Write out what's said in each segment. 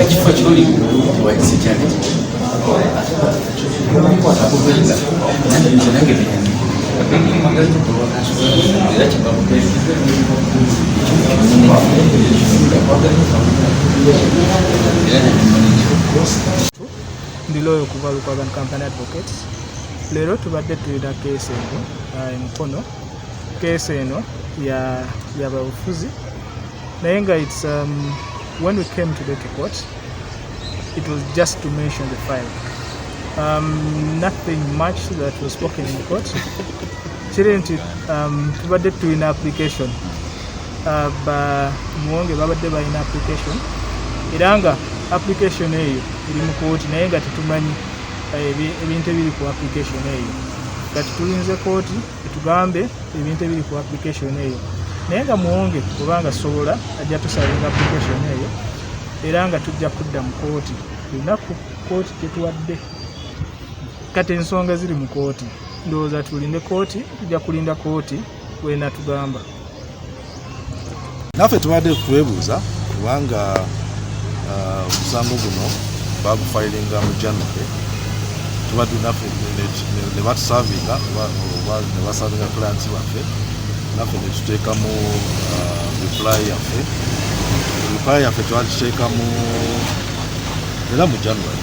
ekifo kyoli wayise kyali kikwatakubeza nange era kibakubeza ndi looyo okuva lukwagan company advocates leero tubadde tulina keesi eno emukono keesi eno yababufuzi ya naye nga its um, when we came today to court it was just to mention the file um, nothing much that was spoken in court kiri nti um, tubadde tulina application uh, ba muwonge babadde balina application era nga application eyo eri mu kooti naye nga tetumanyi uh, ebintu ebiri ku application eyo kati tulinze kooti tugambe ebintu ebiri ku application eyo naye nga muwonge kubanga sobola ajja tusalinga application eyo era nga tujja kudda mu kooti lunaku kooti tetuwadde kati ensonga ziri mu kooti ndowooza tulinde kooti tujja kulinda kooti wenatugamba naffe tubadde twebuuza kubanga uh, omusango guno bagufayiringa mu january tubadde naffe ne batusavinga ne basavinga clients baffe naffe ne tuteekamu uh, reply yaffe reply yaffe twagiteekamu era mu january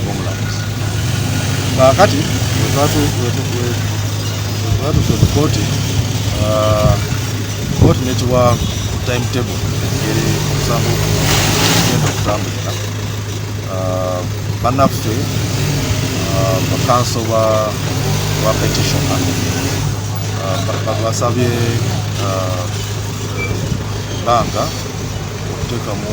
ng'omulamuzi kaakati wetwatuuse mu kooti kooti nekiwa time table eri omusango genda okutambulira banaffe bakanso ba petition basabye ebbanga okuteekamu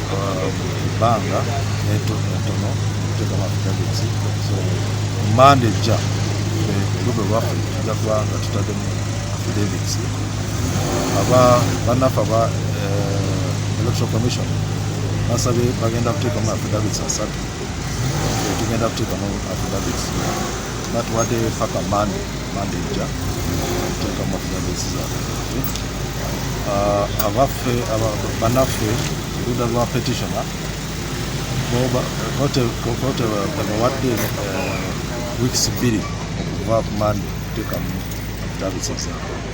ebbanga netono netono okuteeka amafitagezi so manda ejja olube lwaffe tujja kuba nga tutaddemu affidavits aba bannaffe aba eh, electoral commission basabye bagenda kuteekamu affidavits asatu tugenda kuteekamu affidavits batuwadde paka mande mande ejja okuteeka mu database zaabwe ah, abaffe banaffe oluda lwa petitioner tebawadde eh, weeks bbiri okuva ku mande okuteeka mu database zaabwe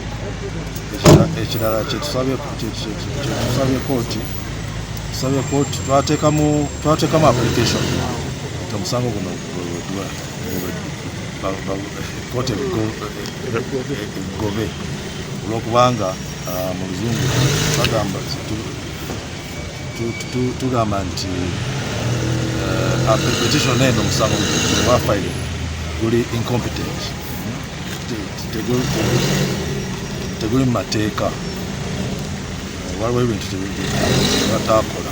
ekirala kyetusabye kooti tusabye kooti twatekamu application omusango guno kooti egobe olwokubanga ah, mu luzungu bagamba tugamba nti eh, ah, petition eno omusango wafaire guli incompetent teguli mu mateeka waliwo ebintu bataakola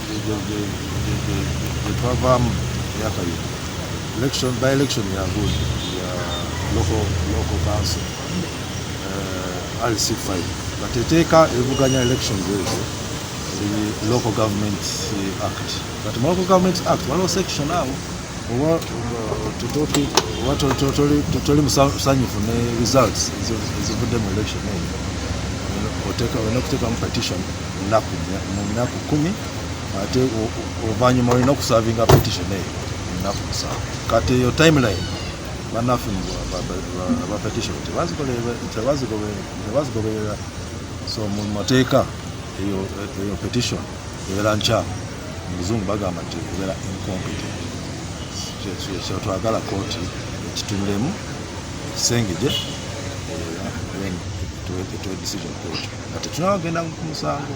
gyetwavaamu myaka yino election by election ya good ya local local council uh, eh, rc5 but eteeka evuganya election ezo local government act but mu local government act waliwo section awo oba totoli musanyufu ne results ezivudde mu election eyo olina okuteekamu petition mu nnaku kumi ate oluvannyuma olina okusavinga petition eyo mu nnaku musanvu kati eyo timeline banaffe ba petition tebazigoberera so mu mateeka eyo petition ebeera nkyamu muzungu bagamba nti okubeera incompetent kyetwagala kooti ekitunulemu ekisengegye eh, etuwe decision kooti nga tetunawagenda ku musango